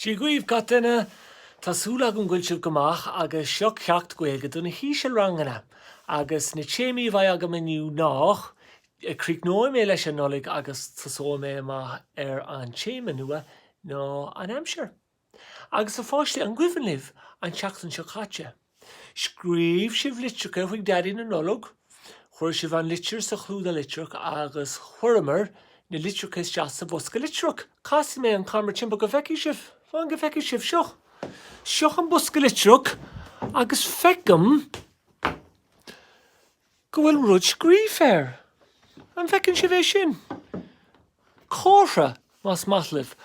Dia dhaoibh gach duine! Tá súil agam go bhfuil sibh go maith agus seo ceacht Gaeilge do na haosranganna agus na téamaí a bheidh agam inniu ná, críochnóidh mé leis an Nollaig agus tosóidh mé amach ar an téama nua ná an aimsir. Agus a pháistí, an cuimhin libh an tseachtain seo caite? Scríobh sibh litreacha chuig Daidí na Nollag, chuir sibh an litir sa chlúdach litreach agus chuireamar na litreacha isteach sa bhosca litreach. Casfaidh mé an camera timpeall go bhfeicfidh sibh. Fan go bhfeicfidh sibh. Seo. Seo an bosca litreach agus feicim go bhfuil rud scríofa air. An bhfeiceann sibh é sin? Comhartha, más maith libh,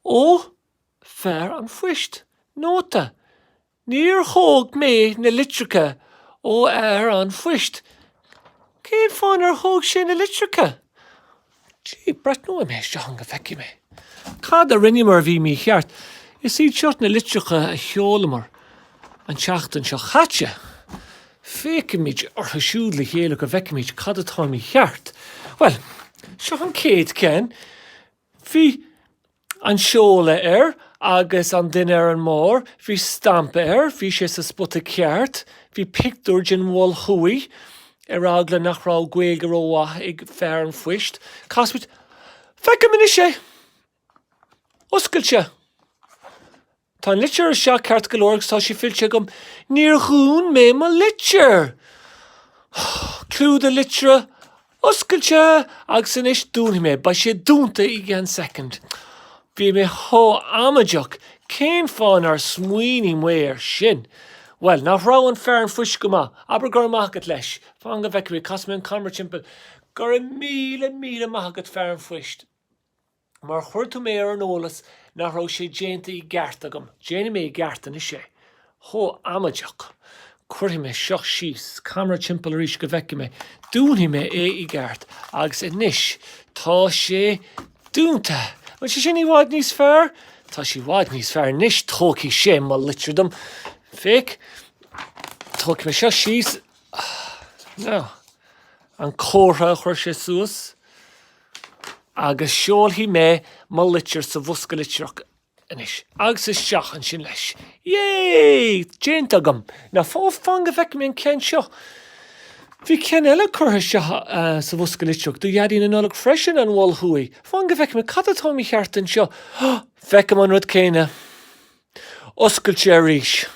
ó Fear an Phoist. Nóta. Níor thóg mé na litreacha ó fhear an phoist. Cén fáth nár thóg sé na litreacha? Gee, breathnóidh mé isteach ann go bhfeicfidh mé cad a rinneamar a bhí mícheart. Is iad seo na litreacha a sheolamar an tseachtain seo caite. Féachfaimid orthu siúd le chéile go bhfeicfimid cad atá mícheart. Bhuel, seo an chéad cheann. Bhí an seoladh air agus an duine ar an mbarr, bhí stampa air, bhí sé sa spota ceart, bhí pictiúr den Mhol Thuaidh, ar eagla nach raibh Gaeilge rómhaith ag fear an phoist, casfaidh, feicim anois. Tá sé oscailte. Tá an litir isteach ceart go leor agus tá sé fillte agam. Níor dhún mé mo litir! Clúdach litreach oscailte agus anois dúnfaidh mé é. Beidh sé dúnta i gceann soicind. Bhí mé chomh amaideach. Cén fáth nár smaoinigh mé ar sin? Bhuel, nach raibh an fear an phoist go maith? Abair go raibh maith agat leis. Fan go bhfeicfidh mé. Casfaidh mé an camera timpeall. Go raibh míle, míle maith agat, fear an phoist. Mar chuir tú mé ar an eolas nach raibh sé déanta i gceart agam. Déanfaidh mé i gceart anois é. Chomh amaideach. Cuirfidh mé seo síos. Camera timpeall arís go bhfeicfidh mé. Dúnfaidh mé é i gceart. Agus anois tá sé dúnta. Ó tá sé sin i bhfad níos fearr. Tá sé i bhfad níos fearr anois. Tógfaidh sé mo litir dom. Féach. Tógfaidh mé seo síos. Now. An comhartha a chuir sé suas. agus seolfaidh mé mo litir sa bhosca litreach anois agus isteach ansin leis. Yay! Déanta agam. Now fan go bhfeicfidh mé an ceann seo. Bhí ceann eile curtha isteach sa bhosca litreach do Dhaidí na Nollag freisin, an Mol Thuaidh. Fan go bhfeicfidh mé cad atá mícheart anseo. Feicim an rud céanna. Oscailte arís.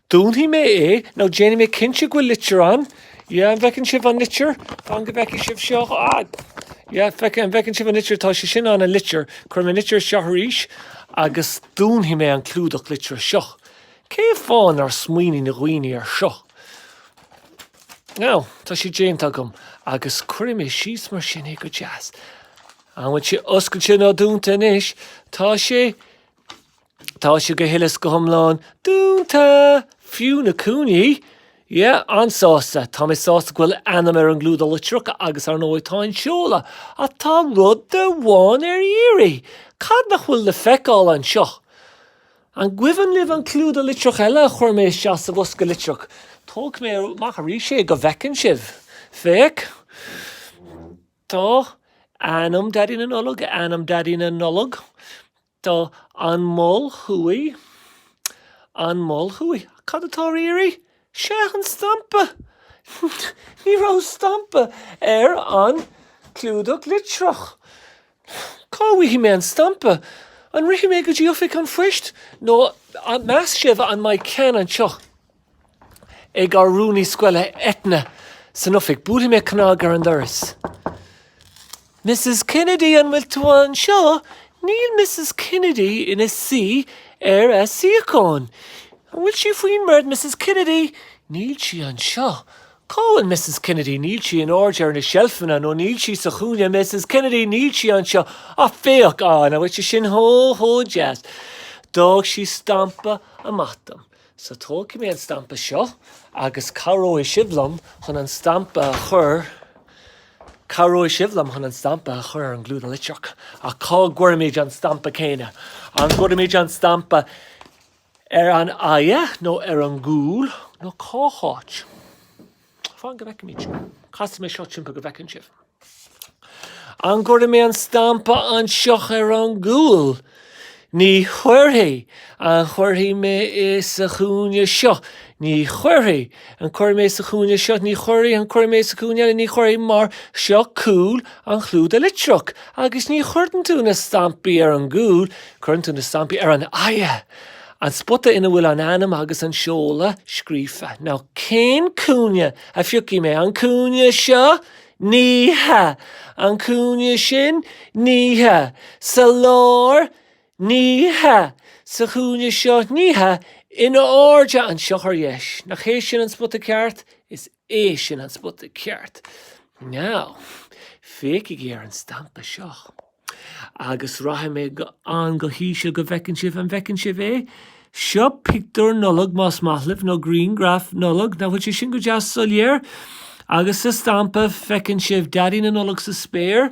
Dúnfaidh mé é, nó déanfaidh mé cinnte go bhfuil litir ann. Yeah, an bhfeiceann sibh an litir? Fan go bhfeicfidh sibh seo. Ah! Yeah, feiceann, an bhfeiceann sibh an litir? Tá sé sin ann, an litir. Cuirfidh mé an litir isteach arís agus dúnfaidh mé an clúdach litreach seo. Cé fáth nár smaoinigh na daoine ar seo? Now, tá sé déanta agam agus cuirfidh mé síos mar sin é go deas. An bhfuil sé oscailte nó dúnta anois? Tá sé Tá sé go huile 's go hiomlán dúnta! Fiú na cúinní! Yeah, an-sásta. Tá mé sásta go bhfuil a ainm ar an gclúdach litreach agus, ar ndóigh, tá an seoladh. Ach tá rud amháin ar iarraidh. Cad nach bhfuil le feiceáil anseo? An gcuimhin libh an clúdach litreach eile a chuir mé isteach sa bhosca litreach? Tógfaidh mé amach arís é go bhfeiceann sibh. Féach. Tá, ainm Daidí na Nollag, ainm Daidí na Nollag. Tá, An Mol Thuaidh, An Mol Thuaidh. Cad atá ar iarraidh? Sea, an stampa! Ní raibh stampa ar an gclúdach litreach. Cá bhfaighidh mé an stampa? An rithfidh mé go dtí Oifig an Phoist nó meas sibh an mbeidh ceann anseo? Ag ár rúnaí scoile Eithne san oifig, buailfidh mé cnag ar an doras. Mrs. Kennedy, an bhfuil tú anseo? Níl Mrs. Kennedy ina suí ar a suíochán. An bhfuil sí faoin mbord, Mrs. Kennedy? Níl sí anseo. Cá bhfuil Mrs. Kennedy? Níl sí in airde ar na seilfeanna nó níl sí sa chúinne, Mrs. Kennedy? Níl sí anseo. Á, féach, á, nach bhfuil sé sin chomh deas? D'fhág sí stampa amach dom. So tógfaidh mé an stampa seo agus cabhróidh sibh liom chun an stampa a chur, cabhróidh sibh liom chun an stampa a chur ar an gclúdach litreach. Ach cá gcuirfimid an stampa céanna? An gcuirfimid an stampa ar an aghaidh nó ar an gcúl nó cá háit? Fan go bhfeicimid. Casfaidh mé seo timpeall go bhfeiceann sibh. An gcuirfidh mé an stampa anseo ar an gcúl? Ní chuirfidh. An gcuirfidh mé é sa chúinne seo? Ní chuirfidh. An gcuirfidh mé é sa chúinne seo? Ní chuirfidh. An gcuirfidh mé é sa chúinne eile? Ní chuirfidh, mar seo cúl an chlúdaigh litreach agus ní chuireann tú na stampaí ar an gcúl, cuireann tú na stampaí ar an aghaidh. An spota ina bhfuil an ainm agus an seoladh scríofa. Now, cén cúinne a phiocfaidh mé, an cúinne seo? Ní hea! An cúinne sin? Ní hea! Sa lár? Ní hea! Sa chúinne seo? Ní hea! In airde anseo ar dheis? Nach hé sin an spota ceart? Is. É sin an spota ceart. Now, féachaigí ar an stampa seo. Agus rachaidh mé go han-íseal go bhfeiceann sibh, an bhfeiceann sibh é? Seo pictiúr Nollag, más maith libh, nó grianghraf Nollag, nach bhfuil sé sin go deas soiléir? Agus sa stampa, feiceann sibh Daidí na Nollag sa spéir,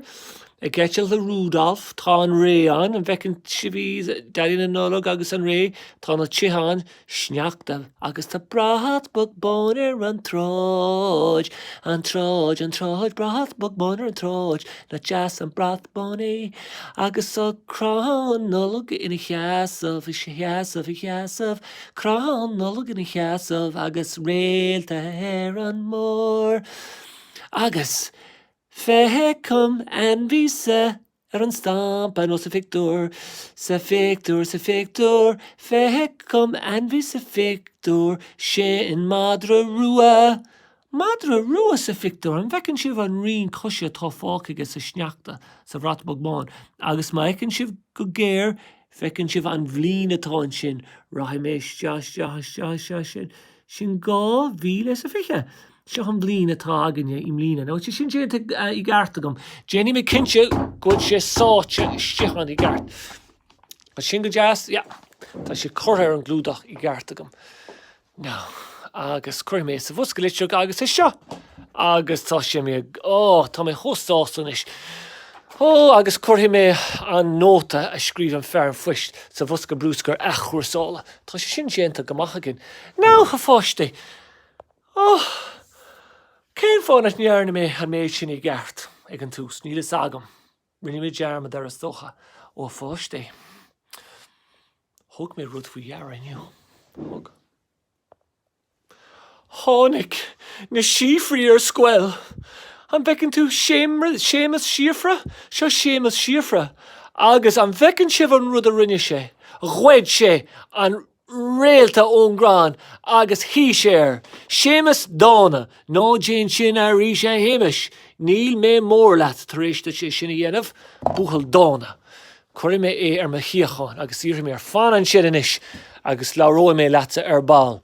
ag eitilt le Rudolf, tá an ré ann, an bhfeiceann sibh í, Daidí na Nollag agus an ré, tá na tithe ann, sneachta agus tá brat bog bán ar an tsráid, an tsráid, an tsráid, brat bog bán ar an tsráid, nach deas an brat bán é, agus tá crann Nollag ina sheasamh, ina sheasamh, ina sheasamh, crann Nollag ina sheasamh agus réalta ar an mbarr. Agus feicim ainmhí sa. Ar an stampa nó sa phictiúr, sa phictiúr, sa phictiúr, feicim ainmhí sa phictiúr, sin madra rua. Madra rua sa phictiúr, an bhfeiceann sibh an rian coise atá fágtha aige sa sneachta, sa bhrat bog bán? Agus má fheiceann sibh go géar, feiceann sibh an bhliain atá ansin, rachaidh mé isteach, isteach, isteach, isteach, sin, 2020. Sin an bhliain atá againne i mbliana. Now, tá sé sin déanta i gceart agam. Déanfaidh mé cinnte go bhfuil sé sáite istigh ann i gceart. Tá sin go deas, yeah. Tá sé curtha ar an gclúdach i gceart agam. Now, agus cuirfidh mé é sa bhosca litreach agus é seo. Agus tá sé mé, ó, tá mé chomh sásta anois. Ó, agus cuirfidh mé an nóta a scríobh an fear poist sa bhosca bruscair athchúrsála. Tá sé sin déanta go maith againn. Now, a pháistí! Ohh! Cén fáth nach ndearna mé an méid sin i gceart ag an tús? Níl fhios agam. Rinne mé dearmad air is dócha, ó a pháistí. Thug mé rud faoi deara inniu. Thug. Tháinig na síofraí ar scoil! An bhfeiceann tú Séamas Síofra? Seo Séamas Síofra. Agus an bhfeiceann sibh an rud a rinne sé? Ghoid sé an réalta ón gcrann agus shuigh sé air. Séamas dána, ná déan sin aríst a Shéamais, níl mé mór leat tar éis duit é sin a dhéanamh. Buachaill dána, cuirfidh mé é ar mo shuíochán agus iarrfaidh mé air, fan ansin anois agus labhróidh mé leatsa ar ball.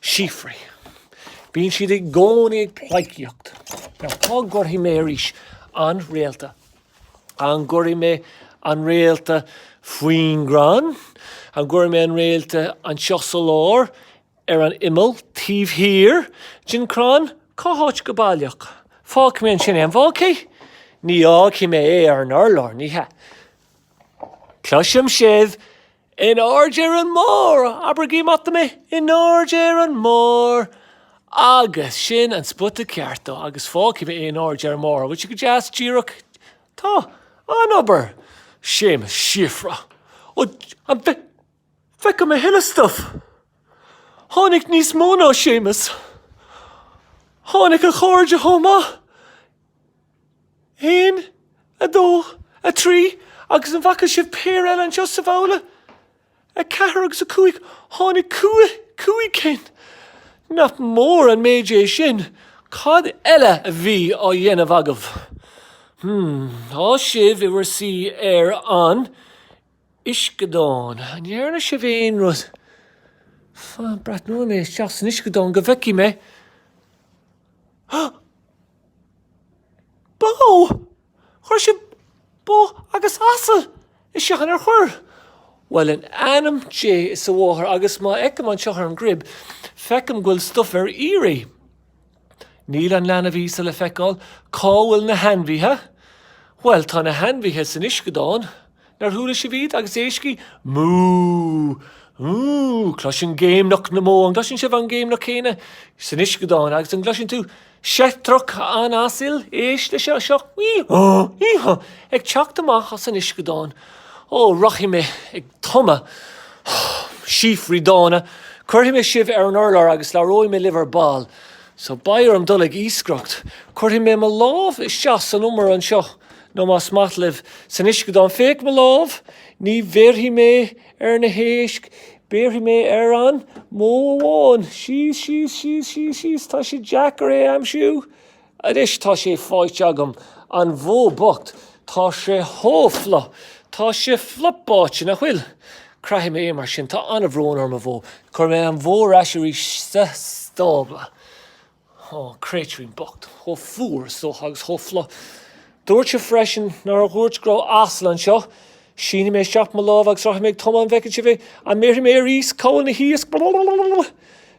Síofraí. Bíonn siad i gcónaí ag pleidhcíocht. Now cá gcuirfidh mé arís an réalta? An gcuirfidh mé an réalta faoin gcrann? An gcuirfidh mé an réalta anseo sa lár, ar an imeall, taobh thiar den crann? Cá háit go baileach? Fágfaidh mé ansin é, an bhfágfaidh? Ní fhágfaidh mé é ar an urlár, ní hea. Cloisim sibh In airde ar an mbarr! Abraigí maith mé! In airde ar an mbarr! Agus sin an spota ceart dhó, agus fágfaidh mé é in airde ar an mbarr. An bhfuil sé go deas díreach? Tá. An-obair! Séamas, Síofra. Ó, an bhfeic, feicim a thuilleadh stuif! Tháinig níos mó ná Séamas. Tháinig a chairde chomh maith. 1, 2, 3, Agus an bhfaca sibh péire eile anseo sa bhabhla? 4 agus 5, Tháinig cúig, cúig chinn. Nach mór an méid é sin. Cad eile a bhí á dhéanamh agaibh? Hmm, tá sibh i bhur suí ar an, uisceadán. An ndearna sibh aon rud? F, Breathnóidh mé isteach san uisceadán go bhfeicfidh mé. Bó! Chuir sibh bó agus asal isteach ann, ar chuir? Bhuel in ainm Dé is a Mháthar agus má fheicim anseo ar an gcruib, feicim go bhfuil stuif ar iarraidh. Níl an leanbh Íosa le feiceáil. Cá bhfuil na hainmhithe? Bhuel, tá na hainmhithe san uisceadán. Nár chuala sibh iad? Agus éistigí! Mú! Mú! Cloisim géimneach na mbó. An gcloiseann sibh an ghéimneach céanna san uisceadán? Agus an gcloiseann tú seitreach an asail? Éist leis seo. Hí-há! Hí-há! Ag teacht amach as an uisceadán. Ó, rachaidh mé ag. tumadh. Síofraí dána. Cuirfidh mé sibh ar an urlár agus labhróidh mé libh ar ball. So, beidh orm dul ag iascaireacht. Cuirfidh mé mo lámh isteach san umar anseo, nó más maith libh, san uisceadán. Féach mo lámh! Ní bhéarfaidh mé ar na héisc, béarfaidh mé ar an mbó amháin. Síos, síos, síos, síos, síos. Tá sé deacair é a aimsiú. Anois tá sé faighte agam, an bhó bocht, tá sé chomh fliuch, tá sé fliuch báite nach bhfuil. Craithfidh mé é mar sin, tá an-bhrón orm a bhó, cuirfidh mé an bhó ar ais arís sa stábla. Ó, an créatúirín bocht, chomh fuar, is dócha, agus chomh fliuch. Dúirt mé freisin, nár dhúirt, go raibh asal anseo. Sínfidh mé isteach mo lámh agus rachaidh mé ag tumadh, an bhfeiceann sibh é, an mbeidh mé aríst ag cabháil na n-iasc.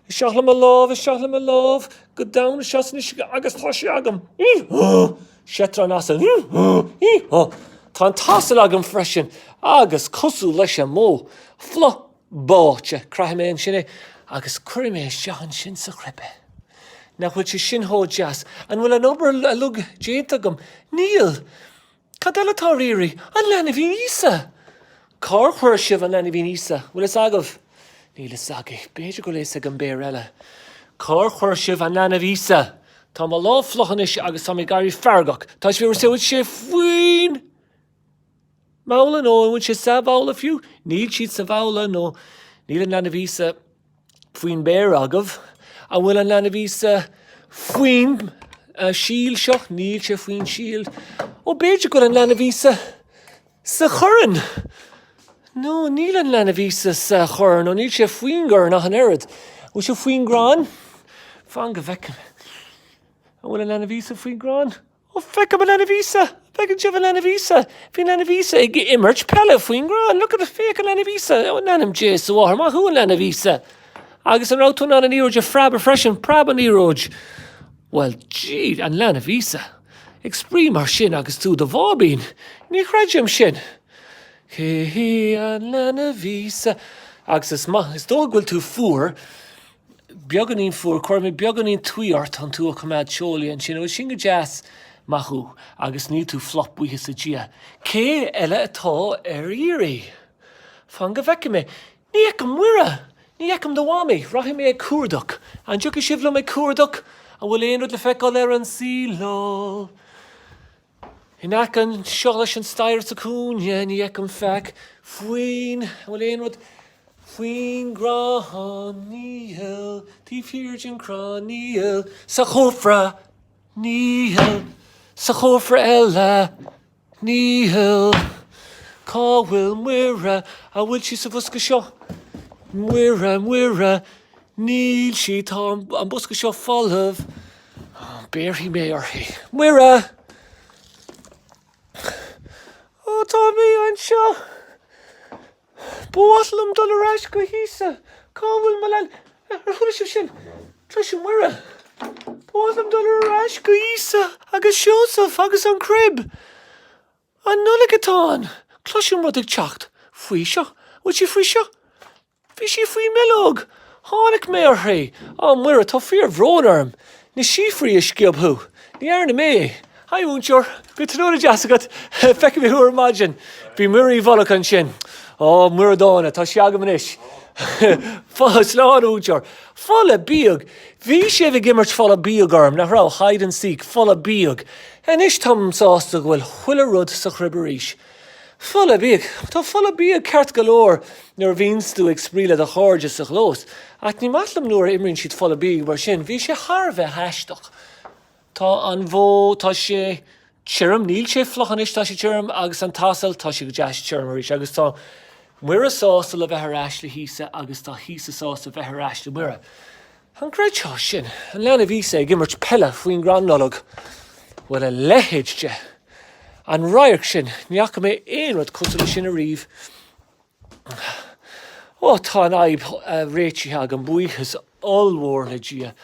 Isteach le mo lámh, isteach le mo lámh, go domhain isteach san uisce agus tá sé agam, hee-haw! Seitreach an asail, hee-haw, hee-haw! Tá an t-asal agam freisin agus cosúil leis an mbó, fliuch báite, craithfidh mé ansin é agus cuirfidh mé isteach ansin sa chruib é. Nach bhfuil sé sin chomh deas? An bhfuil an obair uilig déanta agam? Níl! Cad eile atá ar iarraidh? An Leanbhín Íosa! Cár chuir sibh an Leanbhín Íosa? Bhfuil fhios agaibh? Níl fhios agaibh. B'fhéidir go bhfuil fhios ag an bpéar eile. Cár chuir sibh an Leanbh Íosa? Tá mo lámh fliuch anois agus tá mé ag éirí feargach. Tá sibh ag rá go bhfuil sé faoin mbabhla nó an bhfuil sé sa bhabhla fiú? Níl siad sa bhabhla nó níl an Leanbh Íosa. faoin mbéar agaibh, an bhfuil an Leanbh Íosa faoin tsíleáil seo? Níl sé faoin tsíleáil. Ó, b'fhéidir go bhfuil an Leanbh Íosa sa chorn. No, níl an Leanbh Íosa sa chorn. Ó, níl sé faoin gcorn ach an oiread. An bhfuil sé faoin gcrann? Fan go bhfeicim. An bhfuil an Leanbh Íosa faoin gcrann? Ó, feicim an leanbh Íosa! An bhfeiceann sibh an leanbh Íosa? Bhí an leanbh Íosa ag imirt peile faoin gcrann. Look at the, féach an leanbh Íosa! Ó, in ainm Dé, is a mháthair, maith thú, an leanbh Íosa! Agus an raibh tú in ann an liathróid a phreabadh freisin? Preab an liathróid! Bhuel, gee, a Leanbh Íosa! Ag spraoi mar sin agus tú i do bháibín? Ní chreidim sin! Cé thú, a leanbh Íosa? Agus is maith, is dócha go bhfuil tú fuar. beagáinín fuar, cuirfidh mé beagáinín tuí ort chun tú a choimeád teolaí ansin, an bhfuil sin go deas? Maith thú, agus níl tú fliuch buíochas le Dia. Cé eile atá ar iarraidh? Fan go bhfeicfidh mé. Ní fheicim Muire! Ní fheicim do mhamaí! Rachaidh mé ag cuardach. An dtiocfaidh sibh liom ag cuardach? An bhfuil aon rud le feiceáil ar an saol? In aice anseo leis an staighre sa chúinne ní fheicim faic faoin, an bhfuil aon rud faoin gcrann, níl, taobh thiar den chrann, níl, sa chófra, níl, sa chófra eile, níl. Cá bhfuil Muire, an bhfuil sí sa bhosca seo? Muire, Muire, níl sí, tá an bosca seo folamh. Béarfaidh mé uirthi. Muire! Ó, tá mé anseo! Ba mhaith liom dul ar ais go hÍosa. Cá bhfuil mo leanbh? Ar chuala sibh sin? Cloisim Muire. Ba mhaith liom dul ar ais go hÍosa agus Seosamh agus an crib. An Nollaig atá ann! Cloisim rud ag teacht. Faoi seo? An bhfuil sí faoi seo? Bhí sí faoin mbileog. Tháinig mé uirthi. Á, Muire, tá fíorbhrón orm. Na síofraí a sciob thú. Ní dhearna mé. Haigh, a Mhúinteoir. Go raibh tráthnóna deas agat. Feicfidh mé thú ar maidin. Bhí Muire i bhfolach ansin. Á, Muire Dána, tá sí agam anois. Slán, a Mhúinteoir. Folach bíog. Bhí sibh ag imirt folach bíog orm, nach raibh? Hide and seek. Folach bíog. Anois táim sásta go bhfuil chuile rud sa chrib arís. Folach bíog. Tá folach bíog ceart go leor nuair a bhíonns tú ag spraoi le do chairde sa chlós, ach ní maith liom nuair a imríonn siad folach bíog mar sin. Bhí sé thar a bheith aisteach. Tá an bhó, tá sé tirim, níl sé fliuch anois, tá sé tirim, agus an t-asal, tá sé go deas tirim arís, agus tá Muire sásta le bheith ar ais le hÍosa, agus tá Íosa sásta le bheith ar ais le Muire. An gcreidfeá sin? An leanbh Íosa ag imirt peile faoin gcrann Nollag? Bhuel, a leithéid de. An radharc sin, ní fhaca mé aon rud cosúil leis sin ariamh. Ó, tá an fhadhb réitithe agam, buíochas ollmhór le Dia.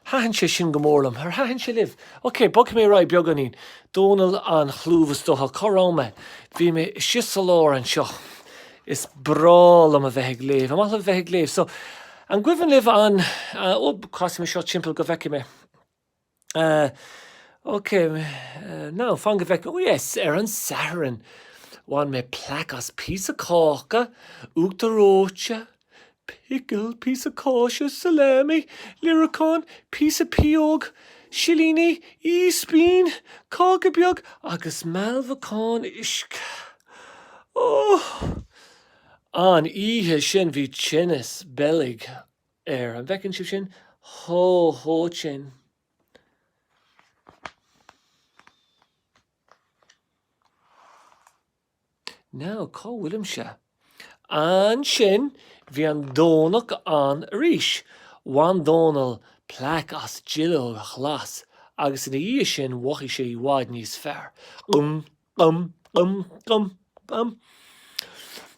Thaitin sé sin go mór liom. Ar thaitin sé libh? OK, bogfaidh mé ar aghaidh beagáinín. Dónall an chlúimh is dócha. Cá raibh mé? Bhí mé istigh sa lár anseo. Is breá liom a bheith ag léamh. An maith libh a bheith ag léamh? So, An gcuimhin libh an, ó, casfaidh mé seo timpeall go bhfeicfidh mé. Ok, no, fan go bhfeicfidh mé. Yes, ar an Satharn, bhain mé plaic as píosa cáca, uachtar reoite, pickle, píosa cáise, salami, líreacán, píosa pióg silíní, ispín, cáca beag agus mealbhacán uisce. Ó! An oíche sin bhí tinneas boilg air. An bhfeiceann sibh sin chomh holc sin? Now, cá bhfuilimse? Ansin bhí an Domhnach ann arís. Bhain Dónall plaic as duilleog ghlas agus ina dhiaidh sin mhothaigh sé i bhfad níos fearr. Gum gum gum gum.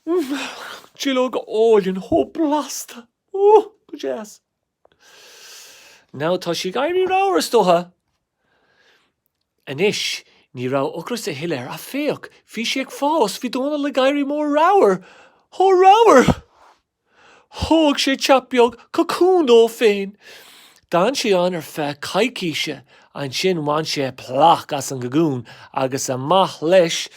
Mm. Duilleoga álainn, chomh blasta. Ó, go deas. Now, tá sé ag éirí ramhar is dócha. Anois, ní raibh ocras a thuilleadh air, ach féach, bhí sé ag fás, bhí Dónall ag éirí mór ramhar, chomh ramhar! Thóg sé teach beag, cocún, dó féin. D'fhan sé ann ar feadh coicíse. Ansin bhain sé plaic as an gcocún agus amach leis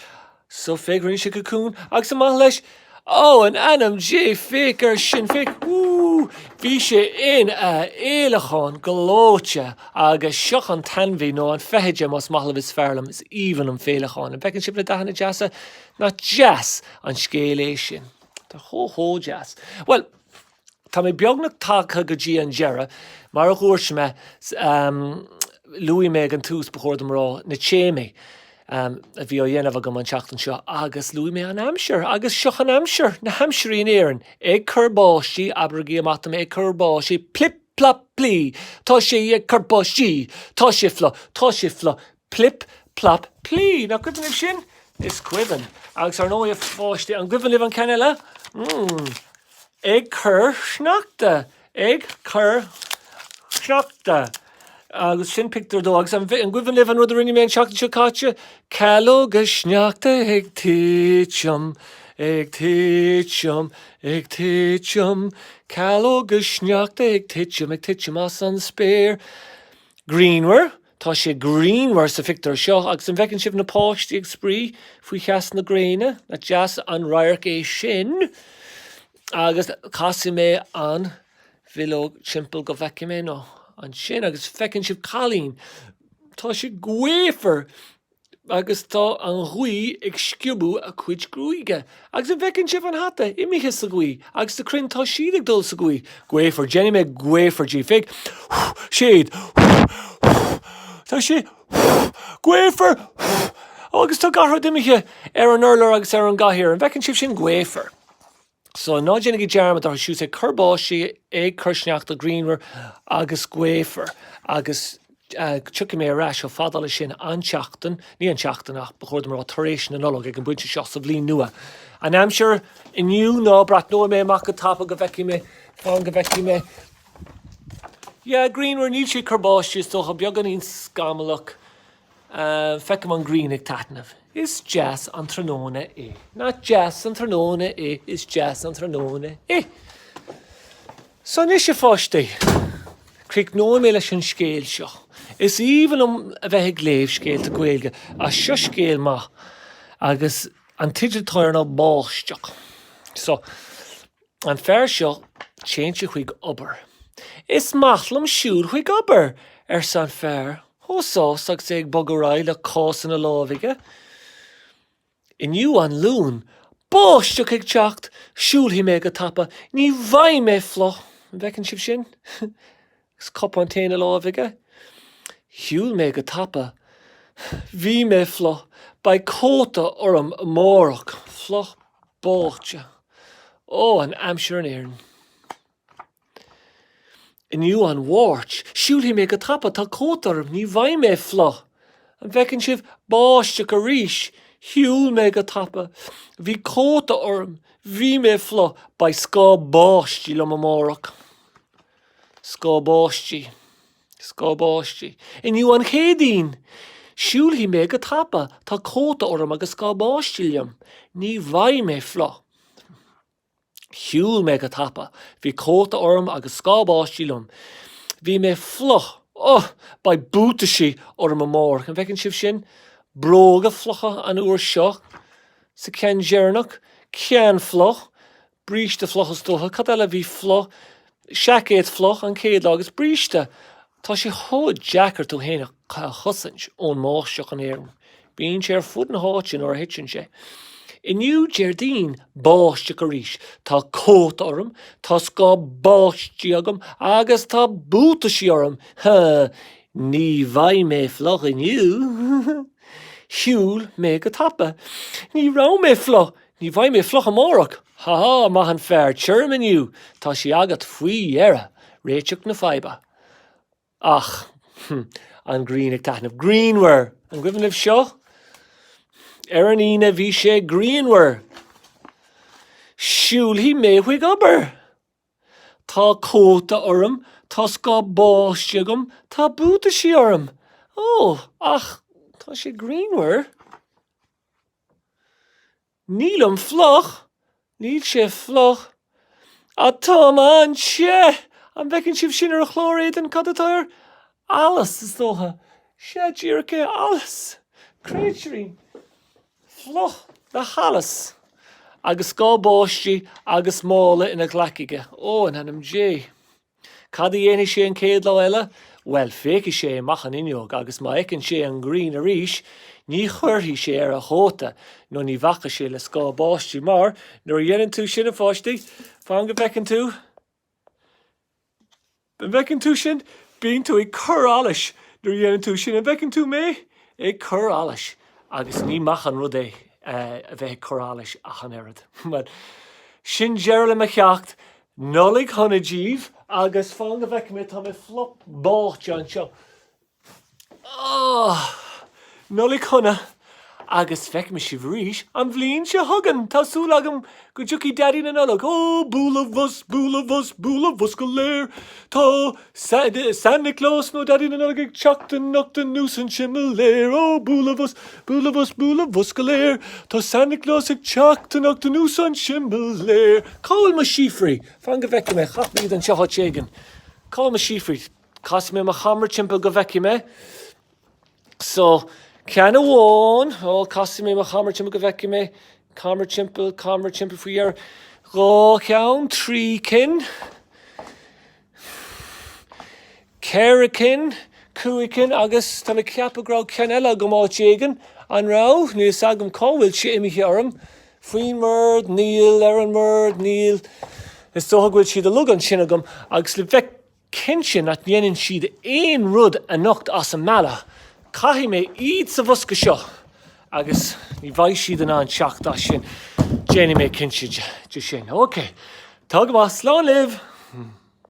So féach, rinne sé cocún agus amach leis Ó, in ainm Dé, féach air sin, féach! Woo! Bhí sé ina fhéileacán gleoite agus seo an t-ainmhí, nó an feithide, más maith libh, is fearr liom, is aoibhinn liom féileacáin. An bhfeiceann sibh na dathanna deasa? Nach deas an scéal é sin? Tá chomh chomh deas. Bhuel, tá mé beagnach tagtha go dtí an deireadh. Mar a dhúirt mé, luaigh mé ag an tús, ba chóir dom a rá, na téamaí a bhí á dhéanamh agam an tseachtain seo agus luaigh mé an aimsir agus seo an aimsir, na haimsirí in Éirinn, ag cur báistí, abraigí amach dom é, ag cur báistí, plip plop plí, tá sé ag cur báistí, tá sé fliuch, tá sé fliuch, Plip, plap, plie! Nach cuimhin libh sin? Is cuimhin. Agus ar ndóigh, a pháistí, an cuimhin libh an ceann eile? Hmm. Ag cur sneachta! Ag cur sneachta! Agus sin pictiúr dó. Agus an cuimhin libh an rud a rinne mé an tseachtain seo caite? Calóga sneachta ag titim, ag titim, ag titim, calóga sneachta ag titim, ag titim as an spéir. Grianmhar. Tá sé grianmhar sa phictiúr seo agus an bhfeiceann sibh na páistí ag spraoi faoi theas na gréine? Nach deas an radharc é sin? Agus casfaidh mé an bhileog timpeall go bhfeicfidh mé now ansin agus feiceann sibh cailín. Tá sé gaofar! agus tá an ghaoth ag sciobadh a cuid gruaige, agus an bhfeiceann sibh an hata imithe sa ghaoth, agus na crainn, tá siad ag dul sa ghaoth. Gaofar, déanfaidh mé gaofar díbh. Féic. Siad. Tá sé. Gaofar! Ó, agus tá gach rud imithe ar an urlár agus ar an gcathaoir. An bhfeiceann sibh sin? Gaofar. So, ná déanaigí dearmad orthu siúd tá sé ag cur báistí, ag cur sneachta, grianmhar agus gaofar agus tiocfaidh mé ar ais chomh fada le sin an tseachtain, ní an tseachtain ach ba chóir dom a rá tar éis na Nollag ag an bpointe seo sa bhliain nua. An aimsir inniu ná breathnóidh mé amach go tapa go bhfeicfidh mé, fan go bhfeicfidh mé, yeah, grianmhar, níl sé ag cur báistí, is dócha, beagáinín scamallach, Feicim an ghrian ag taitneamh. Is deas an tráthnóna é. Nach deas an tráthnóna é, is deas an tráthnóna é. So anois a pháistí, críochnóidh mé leis an scéal seo. Is aoibhinn liom a bheith ag léamh scéalta Gaeilge ach seo scéal maith agus an teideal atá air ná Báisteach. So, An fear seo, téann sé chuig obair. Is maith liom siúl chuig obair! arsa an fear, chomh sásta agus é ag bogadh ar aghaidh le cás ina láimh aige. Inniu an Luan. Báisteach ag teacht! Siúlfaidh mé go tapa. Ní bheidh mé fliuch. An bhfeiceann sibh sin? Agus cupán tae ina láimh aige, shiúil mé go tapa. Bhí mé fliuch. Beidh cóta orm amárach. Fliuch báite. Ó, an aimsir in Éirinn. Inniu an Mháirt. Siúlfaidh mé go tapa. Tá cóta orm. Ní bheidh mé fliuch. An bhfeiceann sibh? Báisteach arís. Shiúil mé go tapa. Bhí cóta orm. Bhí mé fliuch. Beidh scáth báistí liom amárach. Scáth báistí. Scáth báistí. Inniu an Chéadaoin! Siúlfaidh mé go tapa, tá cóta orm agus scáth báistí liom. Ní bheidh mé fliuch. Shiúil mé go tapa. Bhí cóta orm agus scáth báistí liom. Bhí mé fliuch. Oh! Beidh buataisí orm amárach. An bhfeiceann sibh sin? Bróga fliucha an uair seo. Sa ceann deireanach. Ceann fliuch. bríste fliuch is dócha, cad eile a bhí fliuch, seaicéad fliuch an chéad lá agus bríste, tá sé chomh deacair tú fhéin a chosaint ón mbáisteach in Éirinn, bíonn sé ar fud na háite nuair a thiteann sé. Inniu, Déardaoin, báisteach arís, tá cóta orm, tá scáth báistí agam agus tá buataisí orm, ní bheidh mé fliuch inniu. Shiúil mé go tapa. Ní raibh mé fliuch, Ní bheidh mé fliuch amárach! Ha ha, maith an fear, tirim inniu, tá sé agat faoi dheireadh! Réiteach na faidhbe. Ach. An ghrian ag taitneamh. Grianmhar! An gcuimhin libh seo? Ar an Aoine bhí sé grianmhar! Siúlfaidh mé chuig obair! Tá cóta orm, tá scáth báistí agam, tá buataisí orm! Ó, ach tá sé grianmhar! Nílim fliuch, níl sé fliuch, ach táim an-te! An bhfeiceann sibh sin ar chlár a éadain? Cad atá air? Allas, is dócha. Sea, díreach é, allas! Créatúr fliuch le hallas! Agus scáth báistí agus mála ina ghlaic aige. Ó, in ainm Dé! Cad a dhéanfaidh sé an chéad lá eile? Bhuel, féachfaidh sé amach an fhuinneog agus má fheiceann sé an ghrian arís, ní chuirfidh sé air a chóta nó ní bhacfaidh sé le scáth báistí mar, nuair a dhéanann tú sin, a pháistí, fan go bhfeiceann tú, an bhfeiceann tú sin? bíonn tú ag cur allais nuair a dhéanann tú sin, an bhfeiceann tú mé? ag cur allais agus ní maith an rud é a bheith ag cur allais ach an oiread. Bhuel, sin deireadh le mo cheacht Nollaig shona díbh agus fan go bhfeice mé tá mé fliuch báite anseo oh Nollaig shona agus feicfidh mé sibh arís an bhliain seo chugainn tá súil agam go dtiocfaidh Daidí na Nollag oh bualadh bhus bualadh bhus bualadh bhus go léir tá San Nioclás nó Daidí na Nollag ag teacht anocht anuas an simléar ó bualadh-bhus, bualadh-bhus, bualadh-bhus go léir. Tá San Nioclás ag teacht anocht anuas an simléar. Cá bhfuil mo síofraí? Fan go bhfeicfidh mé. Caithfidh go bhfuil siad anseo áit éigin. Cá bhfuil mo síofraí? Casfaidh mé mo cheamara timpeall go bhfeicfidh mé. So, ceann amháin, ó, casfaidh mé mo chamara timpeall go bhfeicfidh mé, camara timpeall, camara timpeall faoi dheireadh, dhá cheann, trí cinn, ceithre cinn, cúig cinn agus tá mé ag ceapadh go raibh ceann eile agam áit éigin, an raibh? Níl 's agam cá bhfuil sé imithe orm, faoin mbord, níl, ar an mbord, níl, is dócha go bhfuil siad uilig ansin agam agus le bheith cinnte nach ndéanann siad aon rud anocht as an mbealach, caithfidh mé iad sa bhosca seo agus ní bheidh siad in ann teacht as sin, déanfaidh mé cinnte de sin, ok, tá go maith, slán libh!